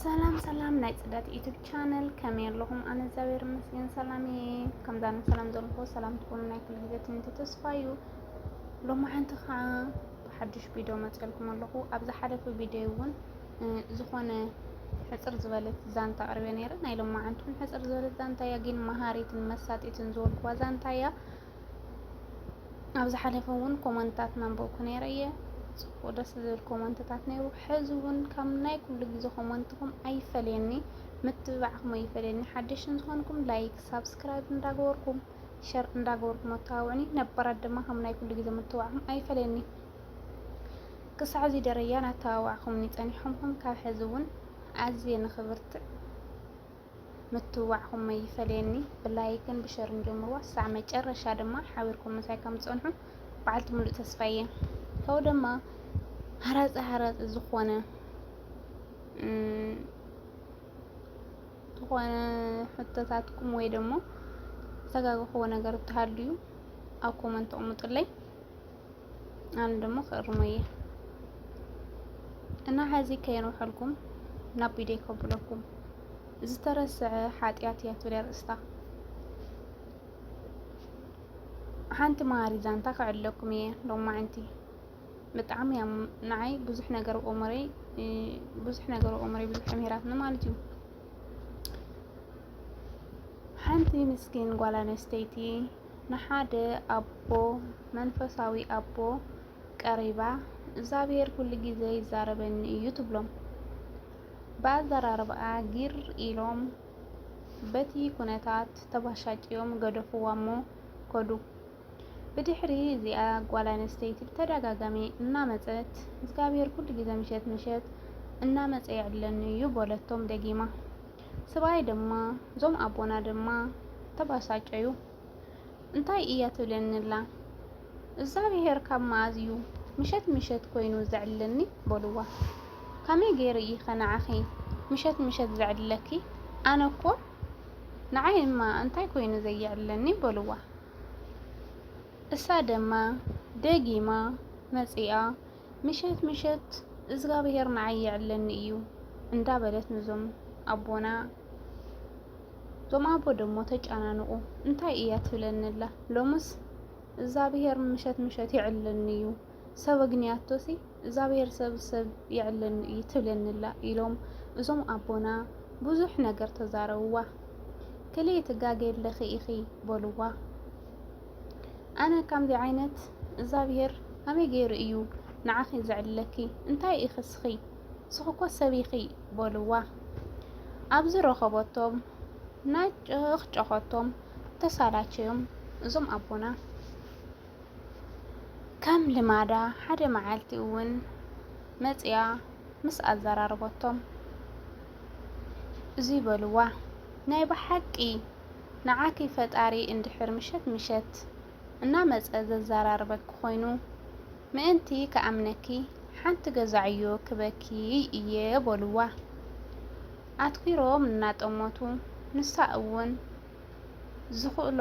ሰላም ሰላም ናይ ፅዳት ዩቱብ ቻነል ከመይ ኣለኹም? ኣነ እግዚኣብሔር ይመስገን ሰላም እየ። ከምዛነ ሰላም ዘለኹ ሰላም ትኾኑ ናይ ኩሉ ግዜ ትምኒተ ተስፋ እዩ። ሎሚ ሓንቲ ከዓ ብሓዱሽ ቪድዮ መፅልኩም ኣለኹ። ኣብ ዝሓለፈ ቪድዮ እውን ዝኾነ ሕፅር ዝበለት ዛንታ ኣቅርበ ነይረ። ናይ ሎሚ ሓንቲ ሕፅር ዝበለት ዛንታ እያ፣ ግን መሃሪትን መሳጢትን ዝበልኩዋ ዛንታ እያ። ኣብ ዝሓለፈ እውን ኮመንትታት መንበብኩ ነይረ እየ ፅቡቅ ደስ ዝብል ኮመንትታት ነይሩ ሕዚ እውን ካብ ናይ ኩሉ ግዜ ኮመንትኩም ኣይፈለየኒ ምትብባዕኩም ኣይፈለየኒ ሓደሽቲ ዝኾንኩም ላይክ ሳብስክራይብ እንዳገበርኩም ሸር እንዳገበርኩም ኣተባብዑኒ ነባራት ድማ ከም ናይ ኩሉ ግዜ ምትብባዕኩም ኣይፈለየኒ ክሳዕ እዚ ደረጃ ናተባባዕኩምኒ ፀኒሕኹም ካብ ሕዚ እውን ኣዝየ ንክብርትዕ ምትብባዕኹም ኣይፈለየኒ ብላይክን ብሸርን ጀምርዋ ክሳዕ መጨረሻ ድማ ሓቢርኩም ምሳይ ከም ትጸንሑ በዓልቲ ሙሉእ ተስፋ እየ ካብኡ ድማ ሃራጺ ሃራጺ ዝኾነ ዝኾነ ሕቶታትኩም ወይ ደግሞ ዝተጋገኹዎ ነገር ተሃልዩ ኣብ ኮመንት ኣቕምጡለይ ኣነ ደሞ ክእርሞ እየ እና ሐዚ ከየንውሐልኩም ናብ ቢደይ ከብለኩም ዝተረስዐ ሓጢኣት እያ ትብል ኣርእስታ ሓንቲ መሃሪ ዛንታ ክዕለኩም እየ ሎማዕንቲ ብጣዕሚ እያ ንዓይ ብዙሕ ነገር ኦመረይ ብዙሕ ነገር ኦመረይ ብዙሕ ተምሂራትኒ ማለት እዩ ሓንቲ ምስኪን ጓል ኣነስተይቲ ንሓደ ኣቦ መንፈሳዊ ኣቦ ቀሪባ እግዝኣብሄር ኩሉ ግዜ ይዛረበኒ እዩ ትብሎም። ብኣዘራርባኣ ጊር ኢሎም በቲ ኩነታት ተባሻጭዮም ገደፉዋሞ ከዱ። ብድሕሪ እዚኣ ጓል ኣንስተይቲ ብተደጋጋሚ እናመጸት እግዝኣብሄር ኩሉ ግዜ ምሸት ምሸት እናመጸ ይዕለኒ እዩ በለቶም ደጊማ። ስብኣይ ድማ እዞም ኣቦና ድማ ተባሳጨዩ እንታይ እያ ትብለኒ ኣላ እግዛብሄር ካብ መኣዝ እዩ ምሸት ምሸት ኮይኑ ዘዕልለኒ በልዋ ካመይ ገይረ እይከ ንዓኺ ምሸት ምሸት ዘዕልለኪ ኣነ እኮ ንዓይ እማ እንታይ ኮይኑ ዘየዕልለኒ በልዋ እሳ ደማ ደጊማ መጺኣ ምሸት ምሸት እዝጋብሄር ንዓይ የዕለኒ እዩ እንዳበለት ንዞም ኣቦና እዞም ኣቦ ደሞ ተጨናንቑ እንታይ እያ ትብለንላ ሎምስ እዛብሄር ምሸት ምሸት ይዕለኒ እዩ ሰብ ኣግንያቶሲ እዛብሄር ሰብ ሰብ ይዕለኒ እዩ ትብለንላ ኢሎም እዞም ኣቦና ብዙሕ ነገር ተዛረብዋ። ክልኤ ትጋጌ ኣለኺ ኢኺ በልዋ። ኣነ ከምዚ ዓይነት እግዛብሄር ከመይ ገይሩ እዩ ንዓኺ ዘዕልለኪ? እንታይ ኢኺ ስኺ? ስኺ እኮ ሰብ ኢኺ በሉዋ። ኣብዚ ረኸበቶም ናጨኽጨኸቶም ተሳላቸዮም እዞም ኣቦና። ከም ልማዳ ሓደ መዓልቲ እውን መፂኣ ምስ ኣዘራረበቶም እዙይ በሉዋ። ናይ ብሓቂ ንዓኺ ፈጣሪ እንድሕር ምሸት ምሸት እናመጸ ዘዛራርበኪ ኮይኑ ምእንቲ ክኣምነኪ ሓንቲ ገዛ ዕዮ ክበኪ እየ በሉዋ ኣትኲሮም እናጠመቱ ንሳ እውን ዝኽእሎ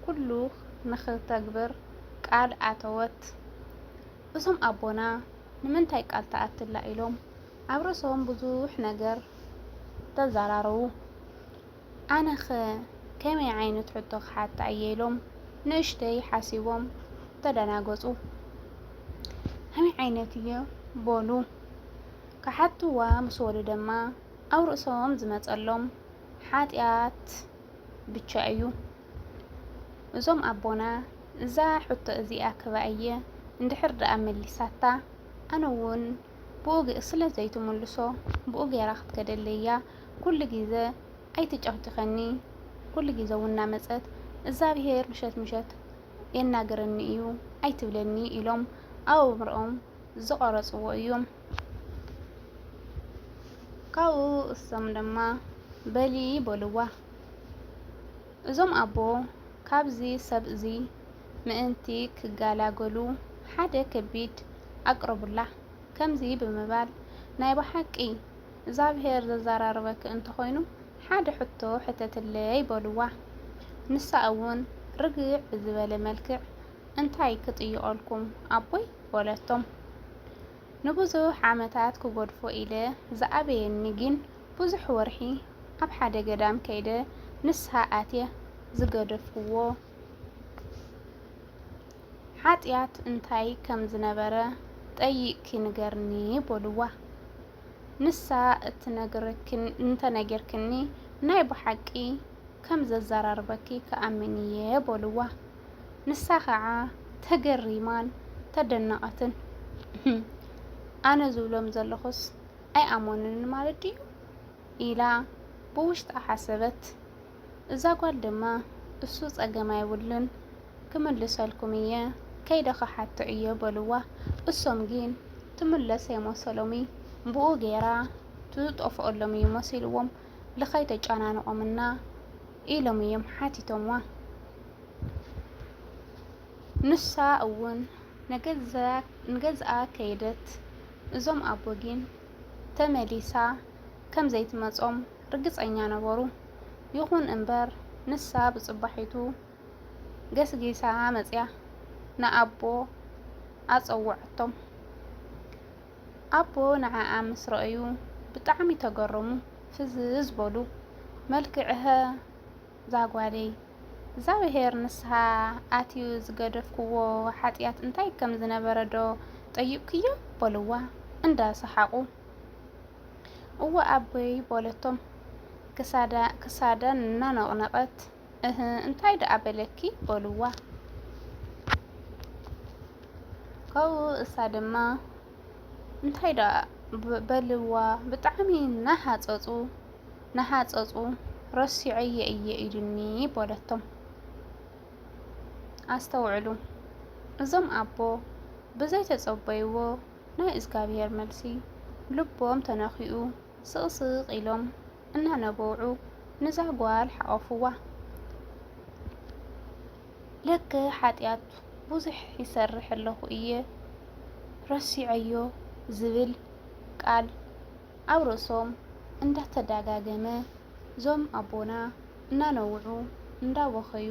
ኩሉ ንኽተግብር ቃል ኣተወት እዞም ኣቦና ንምንታይ ቃል ትኣትላ ኢሎም ኣብ ርእሶም ብዙሕ ነገር ተዛራረቡ። ኣነኸ ከመይ ዓይነት ሕቶ ክሓታ እየ ኢሎም ንእሽተይ ሓሲቦም ተደናገፁ። ከመይ ዓይነት እዩ በሉ ክሓትዋ ምስ በሉ ድማ ኣብ ርእሶም ዝመፀሎም ሓጢኣት ብቻ እዩ። እዞም ኣቦና እዛ ሕቶ እዚኣ ክባ እየ እንድሕር ደኣ መሊሳታ ኣነ እውን ብኡ ስለ ዘይትምልሶ ብኡ ገይራ ክትከደለይ እያ ኩሉ ጊዘ ኣይትጨኽጭኸኒ ኩሉ ጊዘ ውን ናመፀት እግዛብሄር ምሸት ምሸት የናግረኒ እዩ ኣይትብለኒ ኢሎም ኣብ ኣእምሮኦም ዝቐረፅዎ እዩ። ካብኡ እሶም ድማ በሊ በልዋ እዞም ኣቦ ካብዚ ሰብ እዙይ ምእንቲ ክገላገሉ ሓደ ከቢድ ኣቅረቡላ። ከምዚ ብምባል፣ ናይ ብሓቂ እግዝኣብሄር ዘዘራርበኪ እንተኾይኑ ሓደ ሕቶ ሕተትለይ በሉዋ። ንሳ እውን ርግዕ ብዝበለ መልክዕ እንታይ ክጥይቐልኩም ኣቦይ በለቶም። ንብዙሕ ዓመታት ክገድፎ ኢለ ዝኣበየኒ ግን ብዙሕ ወርሒ ኣብ ሓደ ገዳም ከይደ ንስሃ ኣትየ ዝገደፍክዎ። ሓጢኣት እንታይ ከም ዝነበረ ጠይቕኪ ንገርኒ በሉዋ። ንሳ እንተ ነጊርክኒ ናይ ብሓቂ ከም ዘዘራርበኪ ክኣምን እየ በሉዋ። ንሳ ኸዓ ተገሪማን ተደነቐትን። እህም! ኣነ ዝብሎም ዘለኹስ ኣይኣመኑንን ማለት ድዩ? ኢላ ብውሽጣ ሓሰበት። እዛ ጓል ድማ እሱ ጸገም ኣይብሉን ክምልሰልኩም እየ ከይደ ክሓቶ እየ በልዋ እሶም ግን ትምለስ ኣይመሰሎም እዩ ብኡ ገይራ ትጠፍኦሎም እዩ መሲልዎም ልከይ ተጨናንቆምና ኢሎም እዮም ሓቲቶምዋ ንሳ እውን ንገዝኣ ከይደት እዞም ኣቦ ግን ተመሊሳ ከም ዘይትመጾም ርግጸኛ ነበሩ። ይኹን እምበር፣ ንሳ ብጽባሒቱ ገስጊሳ መጺኣ ንኣቦ ኣጸውዐቶም። ኣቦ ንዓኣ ምስ ረኣዩ ብጣዕሚ ተገረሙ፣ ፍዝዝ በሉ። መልክዕ'ሀ እዛ ጓለይ! እግዝኣብሄር ንስሓ ኣትዩ ዝገደፍክዎ ሓጥያት እንታይ ከም ዝነበረ ዶ ጠይቕክዮ? በልዋ እንዳ ሰሓቑ። እወ ኣቦይ በለቶ ክሳዳ እናነቕነቐት። እህ እንታይ ደኣ በለኪ በሉዋ። ካብኡ እሳ ድማ እንታይ ደኣ በልዋ ብጣዕሚ ናሃፀፁ ናሃፀፁ ረሲዐዮ እየ ኢሉኒ በለቶም። ኣስተውዕሉ እዞም ኣቦ ብዘይተፀበይዎ ናይ እዝጋብሄር መልሲ ልቦም ተነኪኡ ስቅስቅ ኢሎም እናነበዑ ንዛ ጓል ሓቆፍዋ ለከ ሓጥያት ቡዙሕ ይሰርሕ ኣለኩ እየ ረሲዐዮ ዝብል ቃል ኣብ ርእሶም እንዳተዳጋገመ ዞም ኣቦና እናነውዑ እንዳበከዩ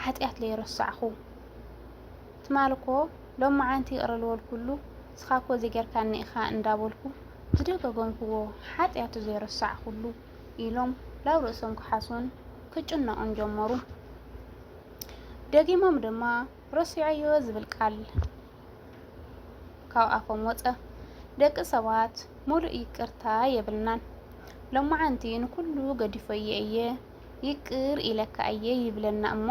ሓጥያት ለይረሳዕኩ ትማል እኮ ሎማዓንቲ ይቅረ ልወልኩሉ እስኻ እኮ እዚ ገርካኒ ኢኻ እንዳበልኩ ዝደገገምኩዎ ሓጥያቱ ዘይረሳዕኩሉ ኢሎም ላብ ርእሶም ክሓሱን ክጭነቁን ጀመሩ ደጊሞም ድማ ረሲዐዮ ዝብል ቃል ካብ ኣፎም ወጸ። ደቂ ሰባት ሙሉእ ይቅርታ የብልናን። ሎማዓንቲ ንኩሉ ገዲፈዮ እየ ይቅር ኢለካ እየ ይብለና እሞ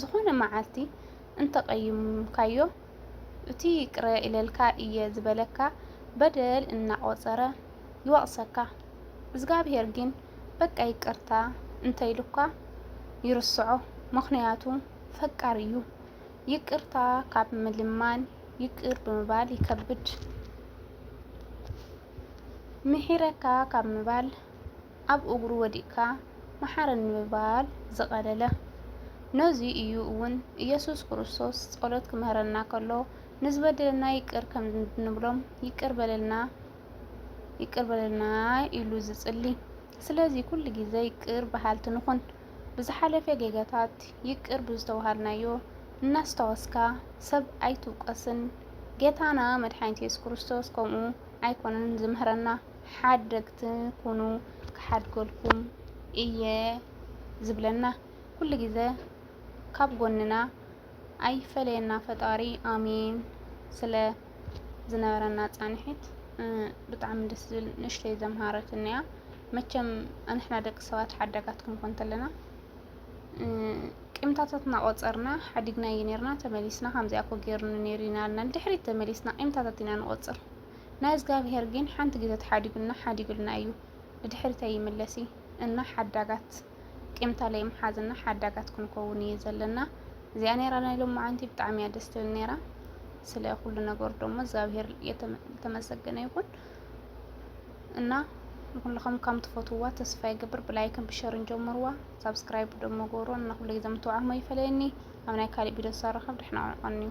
ዝኮነ ማዓልቲ እንተቀይምካዮ እቲ ይቅረ ኢለልካ እየ ዝበለካ በደል እናቆጸረ ይወቅሰካ እዝጋብሄር ግን በቃ ይቅርታ እንተኢሉካ ይርስዖ ምክንያቱ ፈቃር እዩ ይቅርታ ካብ ምልማን ይቅር ብምባል ይከብድ። ምሒረካ ካብ ምባል ኣብ እግሩ ወዲቅካ መሓረኒ ምባል ዝቐለለ። ነዙይ እዩ እውን ኢየሱስ ክርስቶስ ጸሎት ክምህረና ከሎ ንዝበደለና ይቅር ከምንብሎም ይቅር በለልና ይቅር በለልና ኢሉ ዝጽሊ። ስለዚ ኩሉ ግዜ ይቅር በሃልቲ ንኹን። ብዝሓለፈ ጌጋታት ይቅር ብዝተባሃልናዮ እናስታወስካ ሰብ ኣይትውቀስን ጌታና መድሓኒት የሱስ ክርስቶስ ከምኡ ኣይኮነን ዝምህረና ሓደግቲ ኩኑ ክሓድገልኩም እየ ዝብለና ኩሉ ግዘ ካብ ጎንና ኣይፈለየና ፈጣሪ ኣሜን ስለ ዝነበረና ፃንሒት ብጣዕሚ ደስ ዝብል ንእሽተይ ዘምሃረትን እያ መቸም ኣንሕና ደቂ ሰባት ሓዳጋት ክንኮን ተለና ቂምታታት እናቆፀርና ሓዲግና እዩ ነርና ተመሊስና ከምዚኣ ኮ ገይሩኒ ነይሩ ኢና ልና ንድሕሪት ተመሊስና ቂምታታት ኢና ንቆፅር ናይ እግዚኣብሄር ግን ሓንቲ ግዜ ተሓዲጉና ሓዲጉልና እዩ ንድሕሪት ኣይምለስ እዩ እና ሓዳጋት ቂም ተለይም ሓዝና ሓዳጋት ክንኮውን እየ ዘለና እዚኣ ነራ ናይ ሎማዓንቲ ብጣዕሚ እያ ደስ ትብል ነራ ስለ ኩሉ ነገሩ ደሞ እግዚኣብሄር የተመሰገነ ይኹን እና ንኩልኹም ከም ትፈትውዋ ተስፋ ይገብር ብላይክን ብሸርን ጀምርዋ ሳብስክራይብ ደሞ ገብሮ እና ኩሉ ግዜ ምትብዓኹም ኣይፈለየኒ ኣብ ናይ ካሊእ ቪድዮ ሳረኸብ ደሕና ቆንዩ